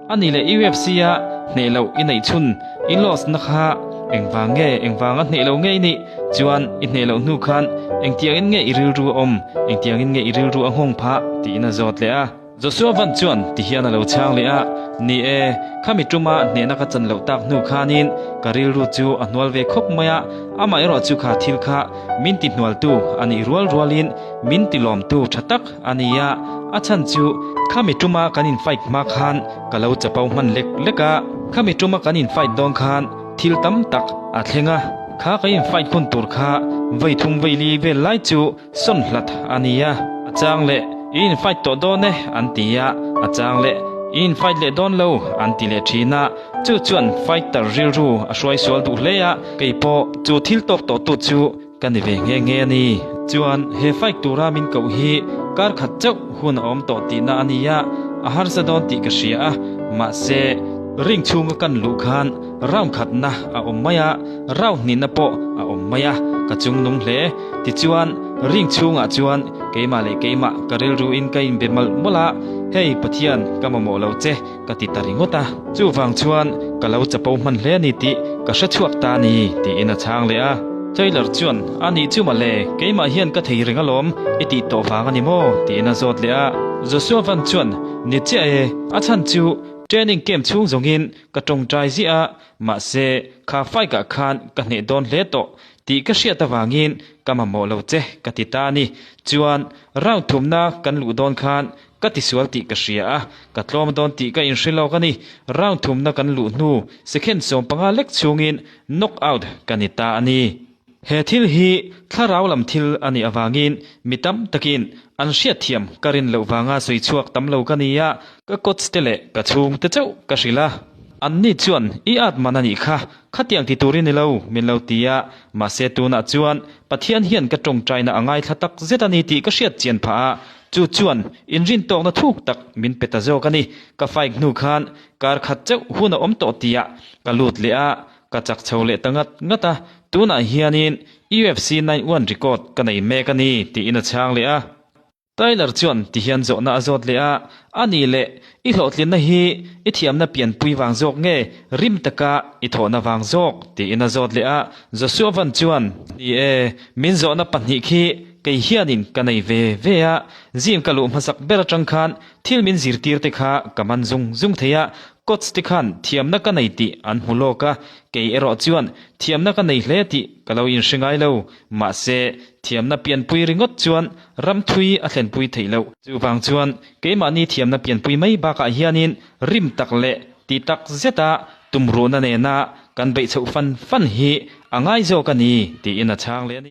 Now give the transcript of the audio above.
A nih leh UFC a hneh loh i neih chhun i loss na kha engvang nge engvang a hneh lo ngei nih chuan i hneh loh hnu khan engtiang in nge i rilru a awm engtiang in nge i rilru a nghawng phah tih in a zawt leh a. Joshua Van chuan ti hian a lo chhang leh a, Ni e, khami ṭum a hneh na ka chan loh tak hnu khan in ka rilru chu a hnual ve khawp mai a, amaherawhchu kha thil kha min ti hnual tu a nih rual rual in min ti lawm tu ṭha tak A ni a, a chhan chu khami tuma kan in fight hma khan ka lo chapau hman lek lek a, khami tuma kan in fight dawn khan thil tam tak a thleng a, kha ka in fight hun tur kha vei thung vei li vel lai chu sawn hlat a ni a, a chang leh i in fight tawh dawn e an ti a, a chang leh i in fight leh dawn lo an ti leh thin a, chu chuan fighter rilru a hruai sual duh hle a, kei pawh chu thil tawk tawh tu chu Ka ni ve nghe nghe a ni. Chuan he fake tura min koh hi kar khat chauh hun a awm tawh tihna a ni a, a harsa dawn tih ka hria a. Mahse, ring chhunga kan luh khan rawn khatna a awm mai a, rau hnihna pawh a awm mai a, ka chung nung hle. Tichuan, ring chhungah chuan keimah leh keimah ka rilruin ka inbe mawlh mawlh a, Hei Pathian, ka mamawh lo che. ka ti ta ringawt a, chuvang chuan ka lo chapo hman hle a ni tih ka hre chhuak ta a ni tiin a chhang leh a. Taylor chuan a ni chu mawle, keimah hian ka thei reng alawm, i tih tawh vang a ni maw tiin a zawt leh a. Joshua Van chuan ni chiah e, a chhan chu training camp chhung zawngin ka tawngtai ziah a, mahse kha fai kah khan ka hneh dawn hle tawh tih ka hriat avangin ka mamawh lo che ka ti ta a ni, chuan round thumna kan luh dawn khan Ka tisual tih ka hria a, ka tlawm dawn tih ka inhre lawk a ni. Round thumna kan luh hnu second sawm panga lek chungin knock out ka ni ta a ni. He thil hi thlarau lam thil a nih avangin mi tam takin an hriatthiam ka rin loh vanga sawi chhuak tam lo ka ni a, ka coach te leh ka chhungte chauh ka hrilh a. Anni chuan i at man a nih kha, Khatiang ti tur i ni lo, min lo ti a, mahse tunah chuan Pathian hian ka tawngtaina a ngaithla tak zet a ni tih ka hriat chian phah a, chu chuan inrin tawkna thuk tak min pe ta zawk a ni. Ka fike hnu khan kar khat chauh hun a awm tawh tia ka lut leh a, ka chak chho leh ta ngat ngat a, tunah hianin UFC nine one record ka nei mek a ni tiin a chhang leh a. Tyler chuan tihian zawhna a zawt leh a, A ni le, i hlawhtlinna hi i thiamna pianpui vang zawk nge rim taka i thawhna vang zawk? tiin a zawt leh a. Joshua van chuan, Ni e, min zawhna pahnih khi kei hianin ka nei ve ve a, zim ka luh hmasak ber atang khan thil min zirtirte kha ka man zung zung thei a, coach te khan thiamna ka nei tih an hmu lawk a, kei erawh chuan thiamna ka nei hle tih ka lo inhre ngai lo, mahse, thiamna pianpui ringawt chuan Ramthui a thlenpui theih loh. Chuvang chuan keimahni thiamna pianpui mai bakah hianin rim tak leh ti tak zeta tumruhna nena kan beih chhoh fan fan hi a ngai zawk a ni, tiin a chhang leh a ni.